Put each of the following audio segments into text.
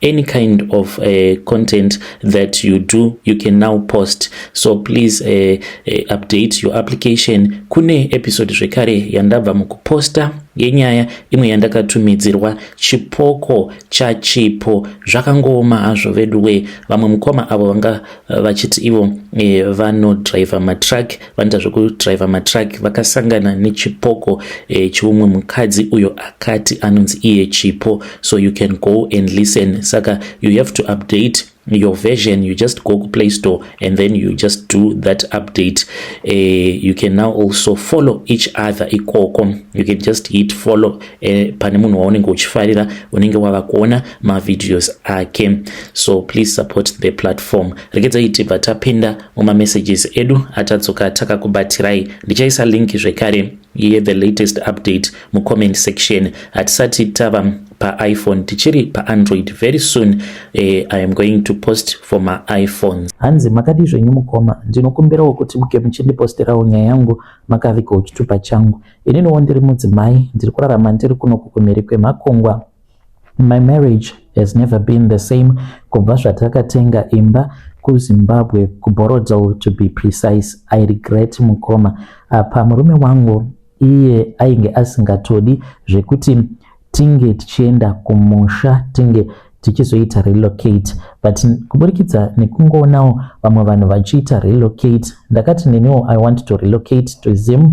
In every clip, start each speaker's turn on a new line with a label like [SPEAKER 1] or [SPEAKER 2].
[SPEAKER 1] any kind of uh, content that you do you can now post so please uh, uh, update your application kune episode zvekare yandabva mukuposta yenyaya imwe yandakatumidzirwa chipoko chachipo zvakangooma hazvo veduwe vamwe mukoma avo vanga vachiti ivo eh, vanodriver matruck vanoita zvekudriver matruck vakasangana nechipoko e, cheumwe mukadzi uyo akati anonzi iye chipo so you can go and listen saka you have to update your version you just go to play store and then you just do that update uh, you can now also follow each other ikoko you can just hit follow uh, pane munhu waunenge uchifarira unenge wava kuona mavideos ake so please support the platform regedzai tibva tapinda mumamessages edu atadzoka takakubatirai ndichaisa link zvekare iye the latest update mucomment section hatisati tava paiphone tichiri paandroid very soon uh, i am going to post for maiphone hanzi makadii zvenyu mukoma ndinokumbirawo kuti muke muchindiposterawo nyaya yangu makavigoo chitupa changu ininiwo ndiri mudzimai ndiri kurarama ndiri kuno kukumhiri kwemakungwa My marriage has never been the same kubva zvatakatenga imba kuZimbabwe kuBorodeaux to be precise. I regret mukoma apa murume wangu iye ainge asingatodi zvekuti tinge tichienda kumusha tinge tichizoita relocate but kuburikidza nekungoonawo vamwe vanhu vachiita relocate ndakati neniwo i want to relocate to zim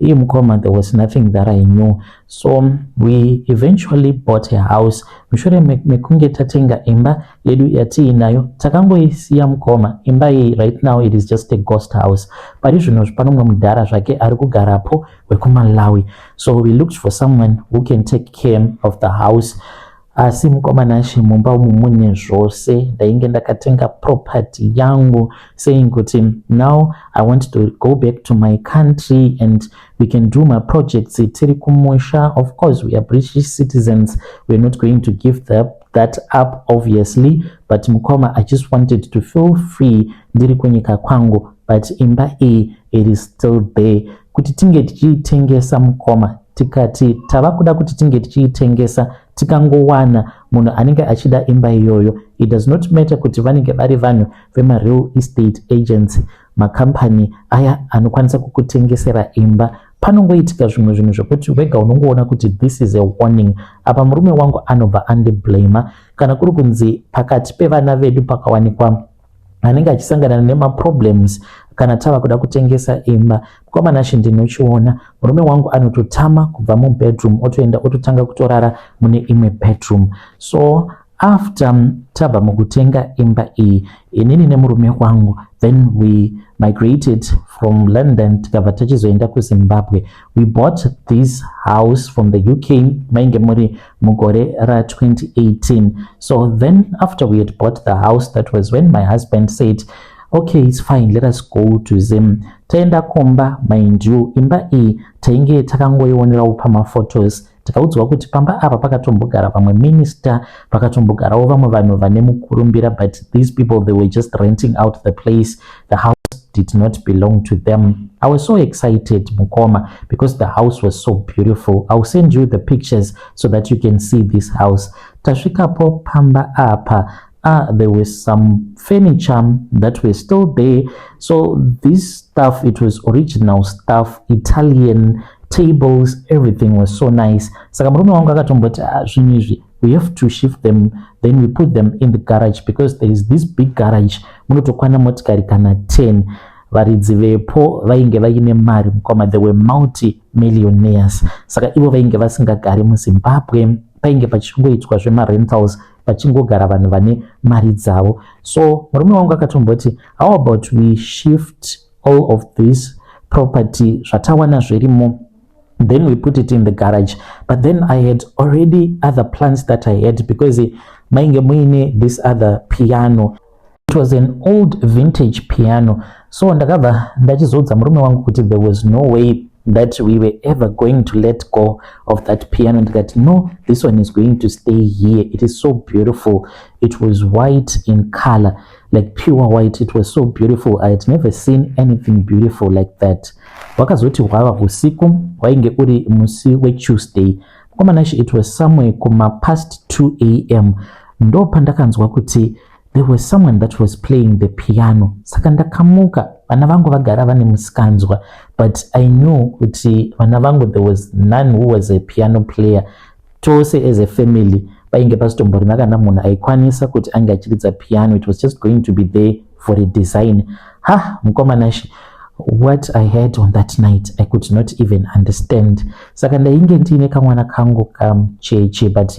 [SPEAKER 1] Hey mukoma, there was nothing that I knew. So we eventually bought a house. Mushure mekunge tatenga imba yedu yatiinayo, takangoisiya mukoma. Imba iyi right now it is just a ghost house. Pari zvino pano mumwe mudhara zvake ari kugarapo wekuMalawi. So we looked for someone who can take care of the house. Asi mukoma Nashe mumba umu mune zvose, ndainge ndakatenga property yangu saying kuti now I want to go back to my country and we can do my projects tiri kumusha. Of course we are British citizens, we are not going to give that, that up obviously, but mukoma I just wanted to feel free ndiri kunyika kwangu, but imba iyi it is still there kuti tinge tichiitengesa mukoma tikati tava kuda kuti tinge tichiitengesa tikangowana munhu anenge achida imba iyoyo it does not matter kuti vanenge vari vanhu vemareal estate agents makambani aya anokwanisa kukutengesera imba panongoitika zvimwe zvinhu zvekuti wega unongoona kuti this is a warning apa murume wangu anobva andiblama kana kuri kunzi pakati pevana vedu pakawanikwa anenge achisangana nemaproblems kana tava kuda kutengesa imba mukoma nashe ndinochiona murume wangu anototama kubva mubedroom otoenda ototanga kutorara mune imwe bedroom so after mm, tabva mukutenga imba iyi inini nemurume wangu then we migrated from london tikabva tachizoenda kuzimbabwe We bought this house from the UK mainge muri mugore ra 2018 so then after we had bought the house that was when my husband said okay it's fine let us go to zim taenda kumba mind you imba iyi tainge takangoionerawo pamaphotos Tikaudzwa kuti pamba apa pakatombogara vamwe minister, pakatombogarawo vamwe vanhu vane mukurumbira but these people they were just renting out the place. The house did not belong to them. I was so excited, Mukoma, because the house was so beautiful. I'll send you the pictures so that you can see this house. Tasvikapo pamba apa Ah, there were some furniture that were still there. So this stuff, it was original stuff, Italian tables, everything was so nice. Saka murume wangu akatomboti ah, zvinhu izvi we have to shift them then we put them in the garage because there is this big garage munotokwana motikari kana 10 varidzi vepo vainge vaine mari mukoma they were multi millionaires saka ivo vainge vasingagari muzimbabwe painge pachingoitwa zvemarentals vachingogara vanhu vane mari dzavo so murume wangu akatomboti how about we shift all of this property zvatawana zvirimo then we put it in the garage but then i had already other plans that i had because mainge muine this other piano It was an old vintage piano so ndakabva ndachizoudza murume wangu kuti there was no way that we were ever going to let go of that piano ndikati no this one is going to stay here it is so beautiful it was white in color like pure white it was so beautiful i had never seen anything beautiful like that wakazoti hwava usiku wainge uri musi wetuesday mukomana she it was somewhere kuma past 2 am ndopandakanzwa kuti There was someone that was playing the piano saka ndakamuka vana vangu vagara vane musikanzwa but i knew kuti vana vangu there was none who was a piano player tose as a family painge pasitomborina kana munhu aikwanisa kuti ange achiridza piano it was just going to be there for a design ha mukomanashi what i had on that night i could not even understand saka ndainge ndiine kamwana kangu kamucheche but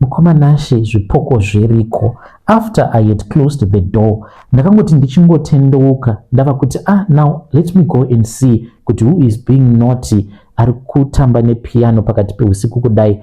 [SPEAKER 1] Mukoma Nashe zvipoko zviriko. After I had closed the door, ndakangoti ndichingotendeuka ndava kuti ah now let me go and see kuti who is being naughty ari kutamba nepiano pakati peusiku kudai.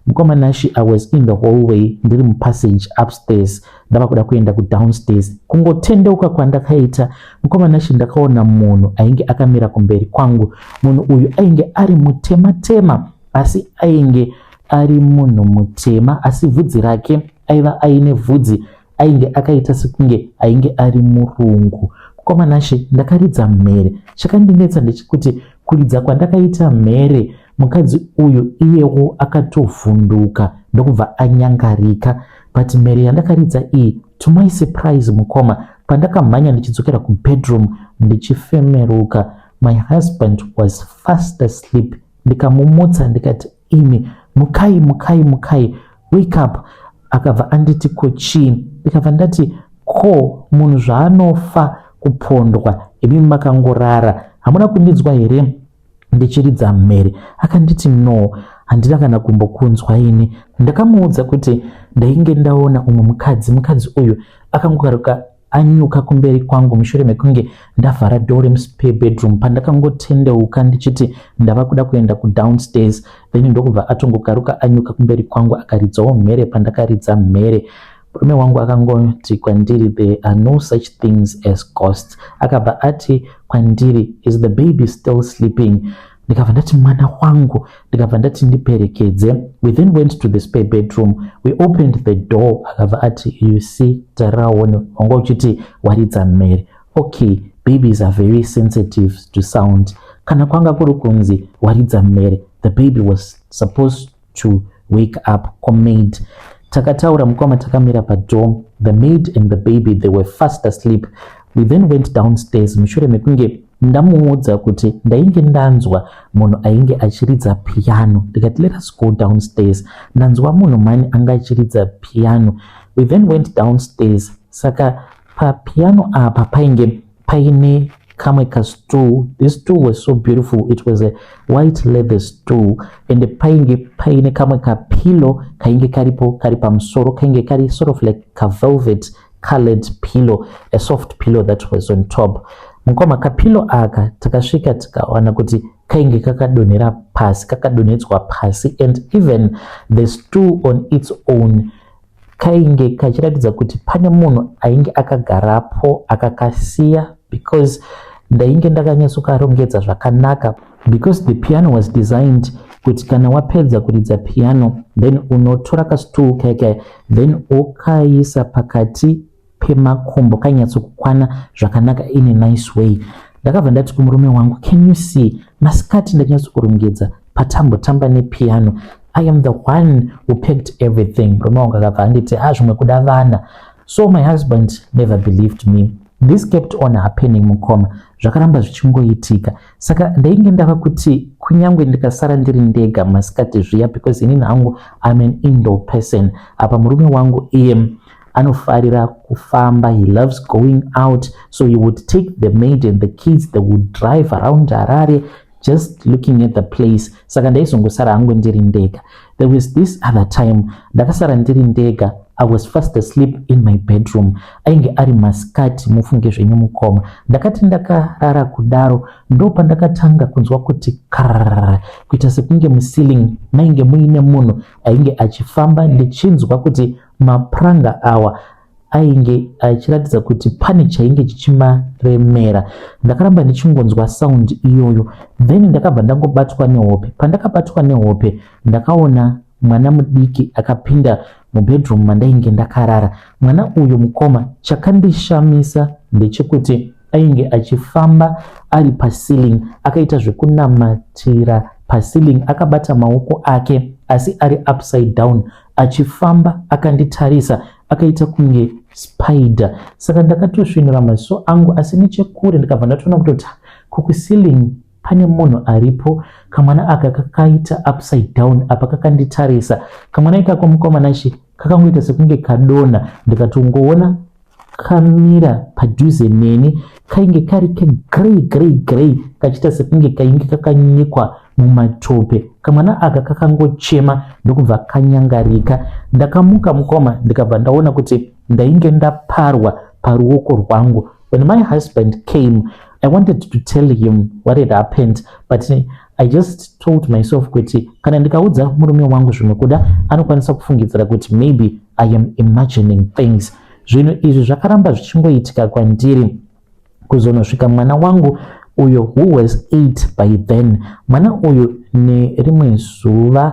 [SPEAKER 1] Mukoma Nashe I was in the hallway ndiri mupassage upstairs ndava kuda kuenda kudownstairs. Kungotendeuka kwandakaita mukoma Nashe ndakaona munhu ainge akamira kumberi kwangu. Munhu uyu ainge ari mutema tema asi ainge ari munhu mutema asi vhudzi rake aiva aine vhudzi ainge akaita sekunge ainge ari murungu mukoma nashe ndakaridza mhere chakandinetsa ndechekuti kuridza kwandakaita mhere mukadzi uyu iyewo akatovhunduka ndokubva anyangarika but mhere yandakaridza iyi to my surprise mukoma pandakamhanya ndichidzokera kubedroom ndichifemeruka my husband was fast asleep ndikamumutsa ndikati ini mukai mukai mukai wake up akabva anditi ko chii ndikabva ndati ko munhu zvaanofa kupondwa imi makangorara hamuna kundinzwa here ndichiridza mhere akanditi no handina kana kumbokunzwa ini ndakamuudza kuti ndainge ndaona umwe mukadzi mukadzi uyu akangokaruka anyuka kumberi kwangu mushure mekunge ndavhara door remuspare bedroom pandakangotendeuka ndichiti ndava kuda kuenda kudownstairs then ndokubva atongokaruka anyuka kumberi kwangu akaridzawo mhere pandakaridza mhere murume wangu akangoti kwandiri there are no such things as ghosts akabva ati kwandiri is the baby still sleeping ndikabva ndati mwana wangu ndikabva ndati ndiperekedze we then went to the spare bedroom we opened the door akabva ati you see taraone wanga uchiti waridza mhere okay babies are very sensitive to sound kana kwanga kuri kunzi waridza mhere the baby was supposed to wake up kwamaid takataura mukoma takamira padoor the maid and the baby they were fast asleep we then went downstairs mushure mekunge ndamuudza kuti ndainge ndanzwa munhu ainge achiridza piano ndikati let us go downstairs ndanzwa munhu mani anga achiridza piano we then went downstairs saka papiano apa painge paine kamwe kastool this stool was so beautiful it was a white leather stool and painge paine kamwe kapillow kainge karipo kari pamusoro kainge kari sort of like kavelvet colored pillow a soft pillow that was on top mukoma kapillow aka takasvika tikawana kuti kainge kakadonhera pasi kakadonhedzwa pasi and even the stool on its own kainge kachiratidza kuti pane munhu ainge akagarapo akakasiya because ndainge ndakanyatsokarongedza zvakanaka because the piano was designed kuti kana wapedza kuridza piano then unotora kastool keke then ukaisa pakati pemakumbo kainyatsokukwana zvakanaka in a nice way ndakabva ndati kumurume wangu can you see masikati ndachinyatsokurongedza patambotamba nepiano i am the one who packed everything murume wangu akabva anditi a ah, zvimwe kuda vana so my husband never believed me this kept on happening mukoma zvakaramba zvichingoitika saka ndainge ndava kuti kunyange ndikasara ndiri ndega masikati zviya because inini hangu im an indo person apa murume wangu iye anofarira kufamba he loves going out so he would take the maid and the kids they would drive around harare just looking at the place saka ndaizongosara hangu ndiri ndega there was this other time ndakasara ndiri ndega i was fast asleep in my bedroom ainge ari masikati mufunge zvenyu mukoma ndakati ndakarara kudaro ndopa ndakatanga kunzwa kuti kar kuita sekunge muceiling mainge muine munhu ainge achifamba ndichinzwa kuti Mapuranga awa ainge achiratidza kuti pane chainge chichimaremera. Ndakaramba ndichingonzwa sound iyoyo then ndakabva ndangobatwa nehope. Pandakabatwa nehope ndakaona mwana mudiki akapinda mubedroom mandainge ndakarara. Mwana uyu mukoma chakandishamisa ndechekuti ainge achifamba ari paceiling akaita zvekunamatira paceiling akabata maoko ake asi ari upside down achifamba akanditarisa akaita kunge spider saka ndakatosvinura maziso angu asi nechekure ndikabva ndatoona kutoti ko kuceiling pane munhu aripo kamwana aka kakaita upside down apa kakanditarisa kamwana ikako mukomana shi kakangoita sekunge kadona ndikatongoona kamira padhuze neni kainge kari kegrey grey grey kachiita sekunge kainge kakanyikwa mumatope kamwana aka kakangochema ndokubva kanyangarika ndakamuka mukoma ndikabva ndaona kuti ndainge ndaparwa paruoko rwangu when my husband came i wanted to tell him what had happened but I just told myself kuti kana ndikaudza murume wangu zvinokuda anokwanisa kufungidzira kuti maybe I am imagining things. Zvinhu izvi zvakaramba zvichingoitika kwandiri kuzonosvika mwana wangu uyo who was 8 by then. Mwana uyu nerimwe zuva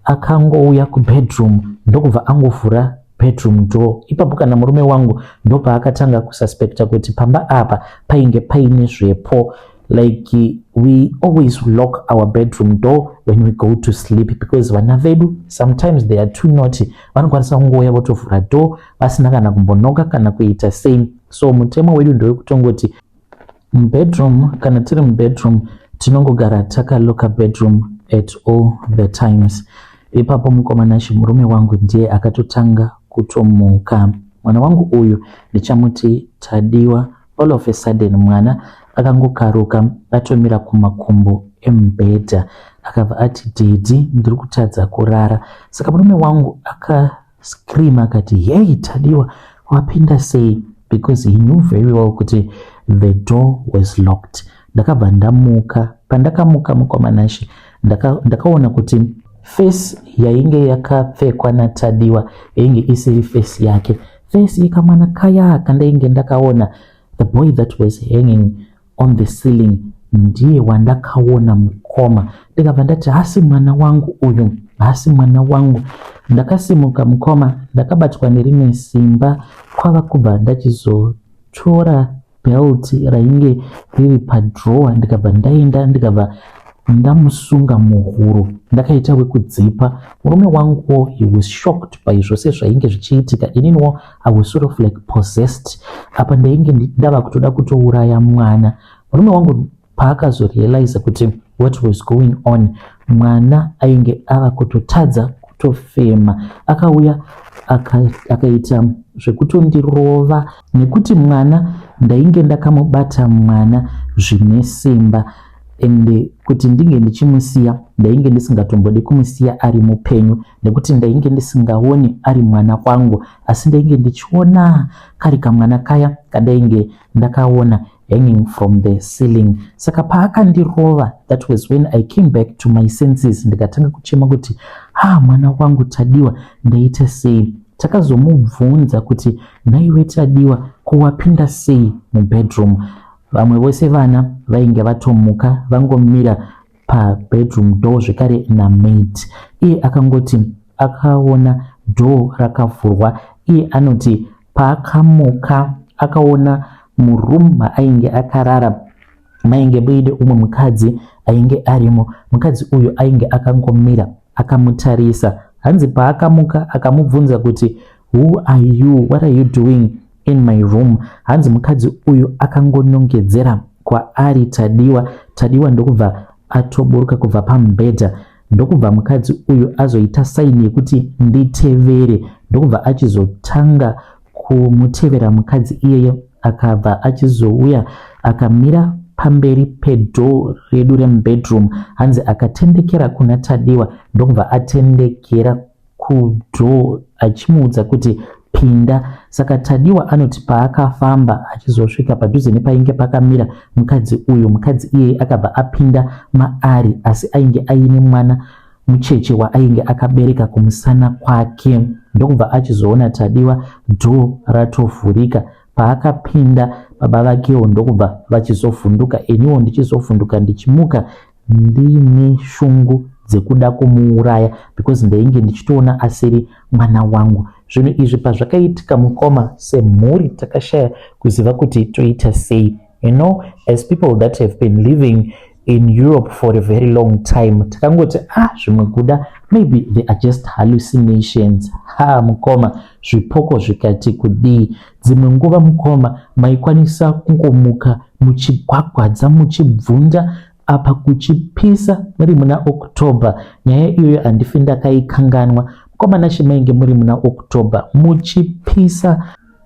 [SPEAKER 1] akangouya kubedroom ndokubva angovhura bedroom door. Ipapo kana murume wangu ndopaakatanga kususpecta kuti pamba apa painge paine zvepo. like we always lock our bedroom door when we go to sleep because vana vedu sometimes they are too naughty vanokwanisa kungouya votovhura door vasina kana kumbonoka kana kuita same so mutemo wedu ndewekutongoti mubedroom kana tiri mubedroom tinongogara takaloka bedroom at all the times ipapo mukomana chimurume wangu ndiye akatotanga kutomuka mwana wangu uyu ndichamuti tadiwa All of a sudden mwana akangokaruka atomira kumakumbo emubhedha akabva ati dedi ndiri kutadza kurara saka murume wangu akascream akati hei tadiwa wapinda sei because he knew very well kuti the door was locked ndakabva ndamuka pandakamuka mukwamanashe ndakaona ndaka kuti face yainge yakapfekwa natadiwa yainge isiri face yake Face yekamwana kaya kandainge ndakaona, the boy that was hanging on the ceiling ndiye wandakaona mukoma. Ndikabva ndati hasi mwana wangu uyu, hasi mwana wangu. Ndakasimuka mukoma, ndakabatwa nerimwe simba kwava kubva ndachizotora belt rainge riri padrower ndikabva ndaenda ndikabva ndamusunga muhuro ndakaita wekudzipa murume wanguwo he was shocked by zvose zvainge zvichiitika ininiwo i was sort of like possessed apa ndainge ndava kutoda kutouraya mwana murume wangu paakazorealiza kuti what was going on mwana ainge ava kutotadza kutofema akauya akaita aka zvekutondirova nekuti mwana ndainge ndakamubata mwana zvine simba ende kuti ndinge ndichimusiya ndainge ndisingatombodi kumusiya ari mupenyu nekuti ndainge ndisingaoni ari mwana kwangu asi ndainge ndichiona kari kamwana kaya kadainge ndakaona hanging from the ceiling saka paakandirova that was when i came back to my senses ndikatanga kuchema kuti ha mwana wangu tadiwa ndaita sei takazomubvunza kuti nhaiwe tadiwa ko wapinda sei mubedroom vamwe vose vana vainge vatomuka vangomira pabedroom door zvekare namaid iye akangoti akaona door rakavhurwa iye anoti Paakamuka akaona muroom maainge akarara mainge muine umwe mukadzi ainge arimo. Mukadzi uyu ainge akangomira akamutarisa. Hanzi paakamuka akamubvunza kuti who are you, what are you doing in my room? Hanzi mukadzi uyu akangonongedzera kwaari Tadiwa. Tadiwa ndokubva atoburuka kubva pamubhedha. ndokubva mukadzi uyu azoita saini yekuti nditevere ndokubva achizotanga kumutevera mukadzi iyeyo akabva achizouya akamira pamberi pedhoo redu remubedroom hanzi akatendekera kuna tadiwa ndokubva atendekera kudoor achimuudza kuti pinda. Saka Tadiwa anoti paakafamba achizosvika padhuze nepainge pakamira mukadzi uyu, mukadzi iyeye akabva apinda maari asi ainge aine mwana mucheche waainge akabereka kumusana kwake ndokubva achizoona Tadiwa door ratovhurika. Paakapinda baba vakewo ndokubva vachizovhunduka iniwo ndichizovhunduka ndichimuka Ndiine shungu dzekuda kumuuraya because ndainge ndichitoona asiri mwana wangu. Zvinhu izvi pazvakaitika mukoma semhuri takashaya kuziva kuti toita sei. You know, as people that have been living in Europe for a very long time takangoti ah zvimwe kuda maybe they are just hallucinations ha mukoma zvipoko zvikati kudii Dzimwe nguva mukoma maikwanisa kungomuka muchigwagwadza muchibvunda apa kuchipisa muri muna October. Nyaya iyoyo handifi ndakaikanganwa. Mukoma Nashe mainge muri muna October muchipisa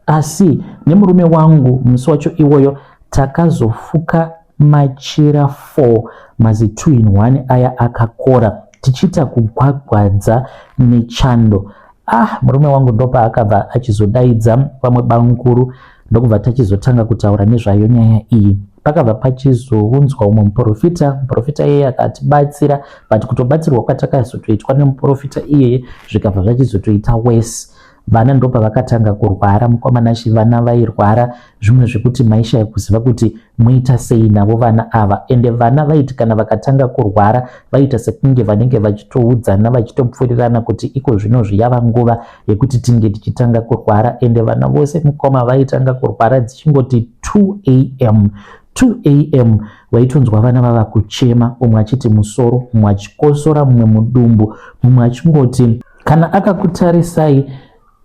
[SPEAKER 1] asi nemurume wangu musi wacho iwoyo takazofuka Machira four mazi two in one aya akakora tichiita kugwagwadza nechando. Ah murume wangu ndopaakabva achizodaidza vamwe bamukuru ndokubva tachizotanga kutaura nezvayo nyaya iyi. Pakabva pachizounzwa umwe muporofita, muporofita iyeye akatibatsira but kutobatsirwa kwatakazotoitwa nemuporofita iyeye zvikabva zvachizotoita worse. vana ndopa vakatanga kurwara mukoma nashe vana vairwara zvimwe zvekuti maishaya kuziva kuti moita sei navo vana ava ende vana vaiti kana vakatanga kurwara vaita sekunge vanenge vachitoudzana vachitopfurirana kuti iko zvino zviyava nguva yekuti tinge tichitanga kurwara ende vana vose mukoma vaitanga kurwara dzichingoti 2 am 2 am waitonzwa vana vava kuchema umwe achiti musoro umwe achikosora mumwe mudumbu mumwe achingoti kana akakutarisai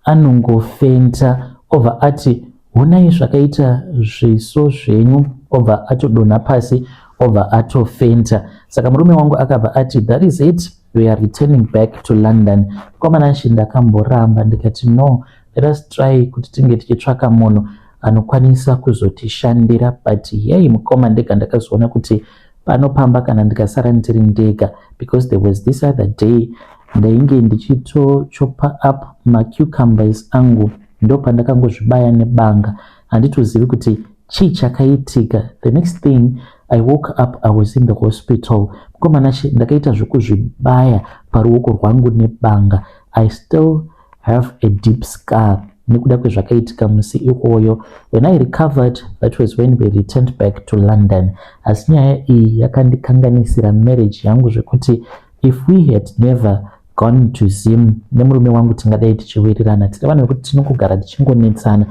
[SPEAKER 1] anongofenta obva ati honai zvakaita zviso zvenyu obva atodonha pasi obva atofenta saka murume wangu akabva ati that is it we are returning back to london komana shi ndakamboramba ndikati no let us try kuti tinge tichitsvaka munhu anokwanisa kuzotishandira but yei mukoma ndega ndakazoona kuti pano pamba kana ndikasara ndiri ndega because there was this other day ndainge ndichitochopa up macucumbers angu ndopandakangozvibaya nebanga handitozivi kuti chii chakaitika the next thing i woke up i was in the hospital mukomanashe ndakaita zvekuzvibaya paruoko rwangu nebanga i still have a deep scar nekuda kwezvakaitika musi iwoyo when i recovered that was when we returned back to london asi nyaya iyi yakandikanganisira marriage yangu zvekuti if we had never gone to zim nemurume wangu tingadai tichiwirirana tine vanhu vekuti tinongogara tichingonetsana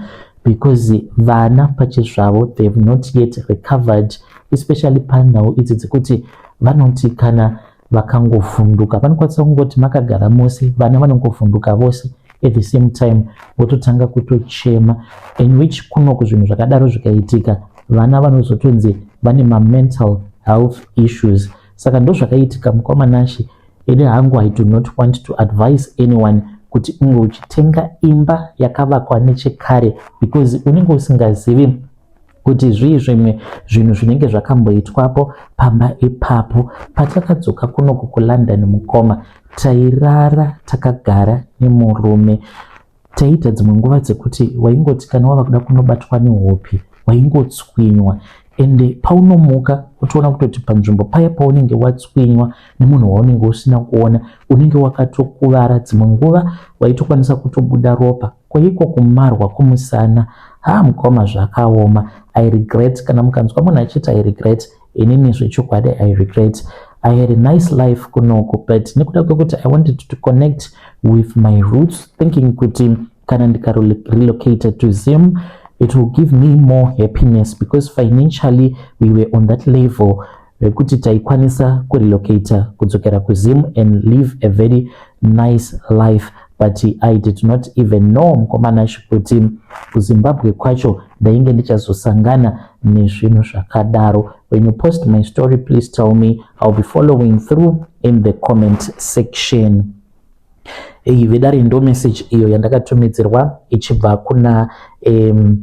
[SPEAKER 1] because vana pachezvavo they have not yet recovered especially panhau idzi dzekuti vanoti kana vakangovhunduka vanokwanisa kungoti makagara mose vana vanongovhunduka vose at the same time vototanga kutochema in which kunoku zvinhu zvakadaro zvikaitika vana vanozotonzi vane mamental health issues saka ndozvakaitika mukoma nashe ini hangu i do not want to advise anyone kuti unge uchitenga imba yakavakwa nechekare because unenge usingazivi kuti zvii zvimwe zvinhu zvinenge zvakamboitwapo pamba ipapo patakadzoka kunoku kulondon mukoma tairara takagara nemurume taiita dzimwe nguva dzekuti waingoti kana wava kuda kunobatwa nehopi waingotswinywa ende paunomuka utoona kutoti panzvimbo paya paunenge watswinywa nemunhu waunenge usina kuona unenge wakatokuvara dzimwe nguva waitokwanisa kutobuda ropa Ko iko kumarwa kumusana haa mukoma zvakaoma I regret kana mukanzwa munhu achiti I regret inini zvechokwadi I regret I had a nice life kunoku but nekuda kwekuti I wanted to connect with my roots thinking kuti kana ndika relocated to Zim it will give me more happiness because financially we were on that level rekuti taikwanisa kurelocator kudzokera kuzim and live a very nice life but i did not even know mukomana chikuti kuzimbabwe kwacho ndainge ndichazosangana nezvinhu zvakadaro when you post my story please tell me iwill be following through in the comment section eyi vedare ndo message iyo yandakatumidzirwa ichibva kuna um,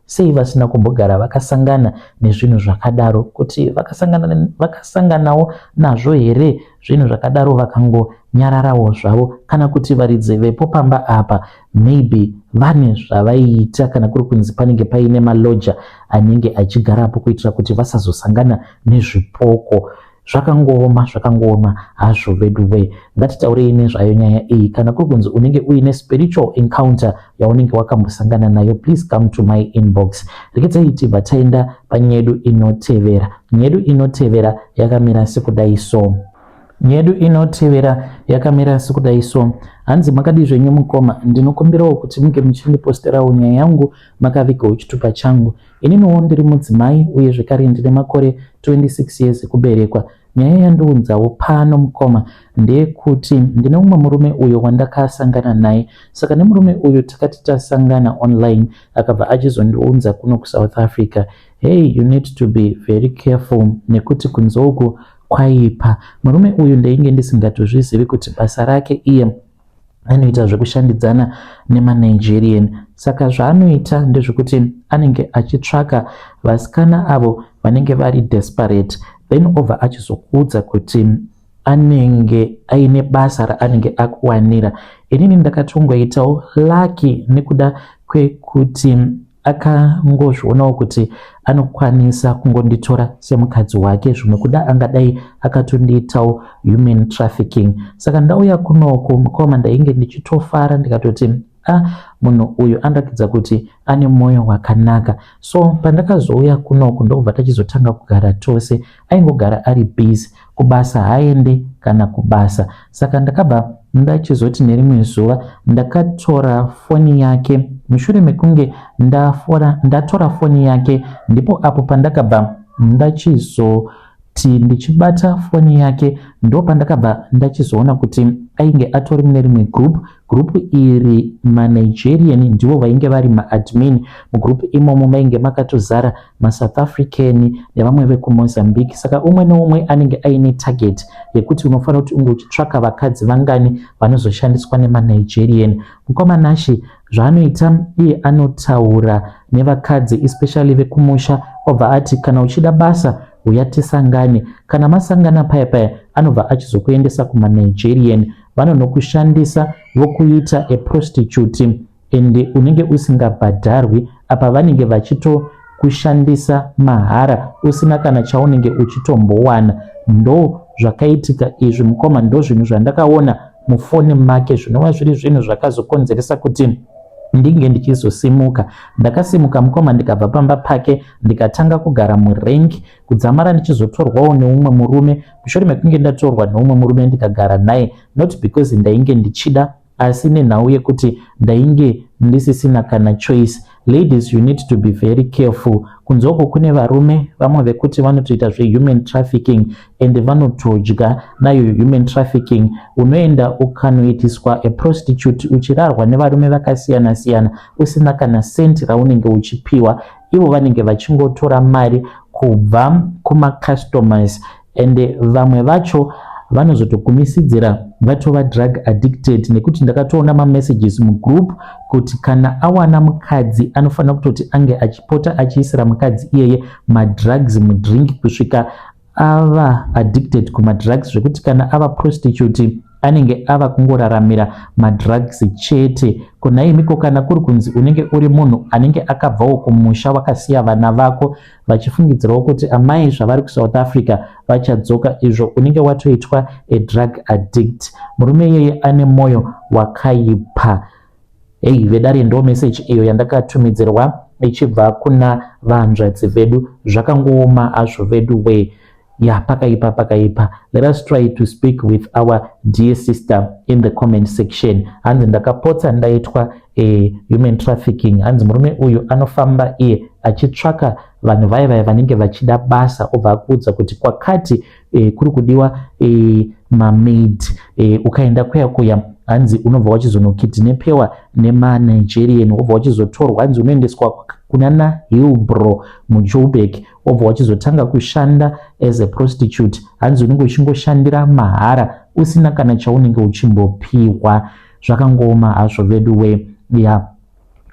[SPEAKER 1] Sei vasina kumbogara vakasangana nezvinhu zvakadaro? Kuti vakasangana, vakasanganawo nazvo here zvinhu zvakadaro vakangonyararawo zvavo? Kana kuti varidzi vepo pamba apa maybe vane zvavaiita kana kuri kunzi panenge paine maloja anenge achigarapo kuitira kuti vasazosangana nezvipoko. zvakangooma zvakangooma hazvo veduwe ngatitaurei nezvayo nyaya iyi kana kuri kunzi unenge uine spiritual encounter yaunenge wakambosangana nayo please come to my inbox rekedzai tibva taenda panyedu inotevera nyedu inotevera yakamira sekudai so nyedu inotevera yakamira sekudai so hanzi makadii zvenyu mukoma ndinokumbirawo kuti munge muchindiposterawo nyaya yangu makaviga uchitupa changu Ininiwo ndiri mudzimai uye zvekare ndine makore 26 years ekuberekwa. Nyaya yandiunzawo pano mukoma ndeyekuti ndine umwe murume uyo wandakasangana naye saka nemurume uyu takati tasangana online akabva achizondiunza kuno kusouth africa hey you need to be very careful nekuti kunzouku kwaipa murume uyu ndainge ndisingatozvizivi kuti basa rake iye anoita zvekushandidzana nemanigerian saka zvaanoita ndezvekuti anenge achitsvaka vasikana avo vanenge vari desperate then obva achizokuudza kuti anenge aine basa raanenge akuwanira inini ndakatongoitawo laki nekuda kwekuti akangozvionawo kuti anokwanisa kungonditora semukadzi wake zvimwe kuda angadai akatondiitawo human trafficking saka ndauya kunoku mukoma ndainge ndichitofara ndikatoti a ah, munhu uyu anoratidza kuti ane mwoyo wakanaka so pandakazouya kunoku ndokubva tachizotanga kugara tose aingogara ari busy kubasa haende kana kubasa saka ndakabva ndachizoti nerimwe zuva ndakatora foni yake mushure mekunge ndafora ndatora foni yake ndipo apo pandakabva ndachizo kuti ndichibata foni yake ndo pandakabva ndachizoona kuti ainge atori mune rimwe group group iri manigerian ndivo vainge vari maadmin mugroup imomo mainge makatozara maSouth African nevamwe vekuMozambique saka umwe neumwe anenge aine target yekuti unofanira kuti unge uchitsvaka vakadzi vangani vanozoshandiswa nemaNigerian mukoma Nashi zvaanoita iye anotaura nevakadzi especially vekumusha obva ati kana uchida basa huya tisangane kana masangana paya paya anobva achizokuendesa kumanigerian vanonokushandisa vokuita aprostitute and unenge usingabhadharwi apa vanenge vachitokushandisa mahara usina kana chaunenge uchitombowana ndo zvakaitika izvi mukoma ndo zvinhu zvandakaona mufoni make zvinova zviri zvinhu zvakazokonzeresa kuti ndinge ndichizosimuka ndakasimuka mukoma ndikabva pamba pake ndikatanga kugara murank kudzamara ndichizotorwawo neumwe murume mushure mekunge ndatorwa neumwe murume ndikagara naye not because ndainge ndichida asi nenhau yekuti ndainge ndisisina kana choice ladies you need to be very careful kunzoko kune varume vamwe vekuti vanotoita zvehuman trafficking and vanotodya nayo human trafficking unoenda ukanoitiswa a prostitute uchirarwa nevarume vakasiyana siyana usina kana senti raunenge uchipiwa ivo vanenge vachingotora mari kubva kumacustomers and vamwe vacho vanozotokumisidzira vatova drug addicted nekuti ndakatoona mamessages mugroup kuti kana awana mukadzi anofanira kutoti ange achipota achiisira mukadzi iyeye madrugs mudrink kusvika ava addicted kumadrugs zvekuti kana ava prostitute anenge ava kungoraramira madrugs chete konaimiko kana kuri kunzi unenge uri munhu anenge akabvawo kumusha wakasiya vana vako vachifungidzirawo kuti amai zvavari kusouth africa vachadzoka izvo unenge watoitwa a drug addict murume iyeye ane mwoyo wakaipa hei vedare ndo meseji iyo yandakatumidzirwa ichibva kuna vahanzvadzi vedu zvakangooma hazvo vedu wee ya pakaipa pakaipa let us try to speak with our dear sister in the comment section hanzi ndakapotsa ndaitwa eh, human trafficking hanzi murume uyu anofamba iye achitsvaka vanhu vaye vaye vanenge vachida basa obva akuudza kuti kwakati eh, kuri kudiwa eh, mamaid eh, ukaenda kuya kuya hanzi unobva wachizonokidhinepewa nemanigerian wobva wachizotorwa hanzi unoendeswa kunana hilbro mujoburg wobva wachizotanga kushanda as a prostitute hanzi unenge uchingoshandira mahara usina kana chaunenge uchimbopiwa zvakangooma hazvo vedu we ya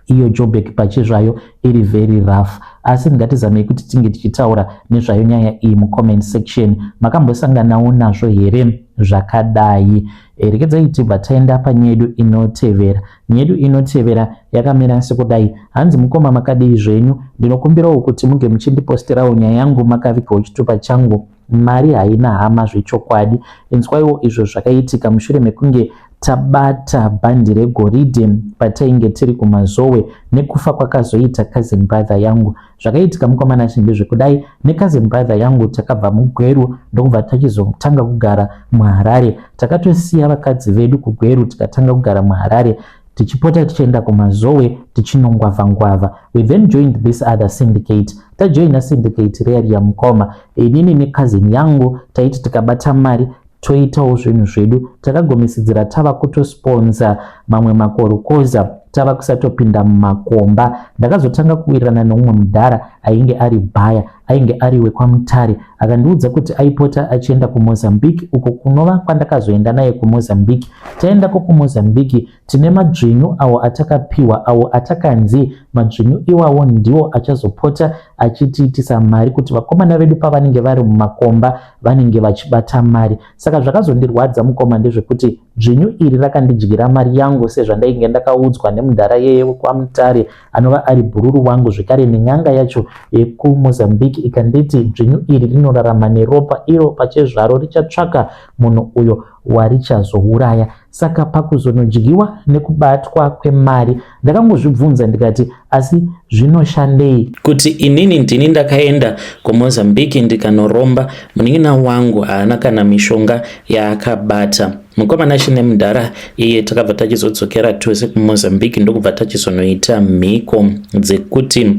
[SPEAKER 1] iyo jobek pachezvayo iri very rough asi ngatizamei kuti tinge tichitaura nezvayo nyaya iyi mucomment section makambosanganawo nazvo here zvakadai eh, rekedzai tibva taenda panyedu inotevera Nyedu inotevera yakamira sekudai. Hanzi mukoma makadii zvenyu? Ndinokumbirawo kuti muge muchindipostirawo nyaya yangu makavigawo chitupa changu. Mari haina hama zvechokwadi. Inzwaiwo izvo zvakaitika mushure mekunge tabata bhandi regoridhe patainge tiri kumazowe nekufa kwakazoita cousin brother yangu. zvakaitika mukomana ashe ndezvekudai necousin brother yangu takabva mugweru ndokubva tachizotanga kugara muharare takatosiya vakadzi vedu kugweru tikatanga kugara muharare tichipota tichienda kumazowe tichinongwavha ngwavha we then joined this other syndicate tajoina syndicate reya riya mukoma inini necousin yangu taiti tikabata mari toitawo zvinhu zvedu takagomisidzira tava kutosponza mamwe makorukoza tava kusatopinda mumakomba ndakazotanga kuwirirana neumwe mudhara ainge ari bhaya ainge ari wekwamutare akandiudza kuti aipota achienda kumozambique uko kunova kwandakazoenda naye kumozambique taendako kumozambique Tine madzvinyu awo atakapiwa awo atakanzi madzvinyu iwawo ndiwo achazopota achitiitisa mari kuti vakomana vedu pavanenge vari mumakomba vanenge vachibata mari. Saka zvakazondirwadza mukoma ndezvekuti dzvinyu iri rakandidyira mari yangu sezvandainge ndakaudzwa nemudhara yeye wekwaMutare anova ari bhururu wangu zvekare nen'anga yacho yekuMozambique ikanditi dzvinyu iri rinorarama neropa iro pachezvaro richatsvaka munhu uyo warichazouraya. Saka pakuzonodyiwa nekubatwa kwemari ndakangozvibvunza ndikati asi zvinoshandei? Kuti inini ndini ndakaenda kuMozambique ndikanoromba munin'ina wangu haana kana mishonga yaakabata. Mukomana chine mudhara iye takabva tachizodzokera tose kuMozambique ndokubva tachizonoita mhiko dzekuti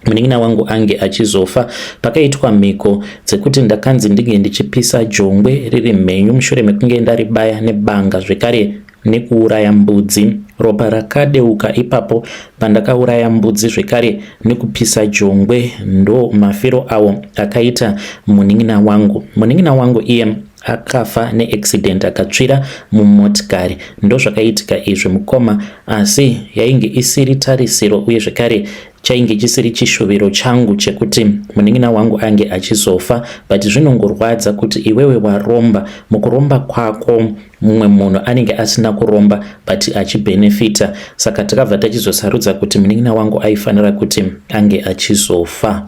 [SPEAKER 1] munin'ina wangu ange achizofa pakaitwa mhiko dzekuti ndakanzi ndinge ndichipisa jongwe riri mhenyu mushure mekunge ndaribaya nebanga zvekare nekuuraya mbudzi ropa rakadeuka ipapo pandakauraya mbudzi zvekare nekupisa jongwe ndo mafiro awo akaita munin'ina wangu munin'ina wangu iye akafa neaccident akatsvira mumotikari ndozvakaitika izvi mukoma asi yainge isiri tarisiro uye zvekare chainge chisiri chishuviro changu chekuti munin'ina wangu ange achizofa but zvinongorwadza kuti iwewe waromba mukuromba kwako mumwe munhu anenge asina kuromba but achibhenefita saka takabva tachizosarudza kuti munin'ina wangu aifanira kuti ange achizofa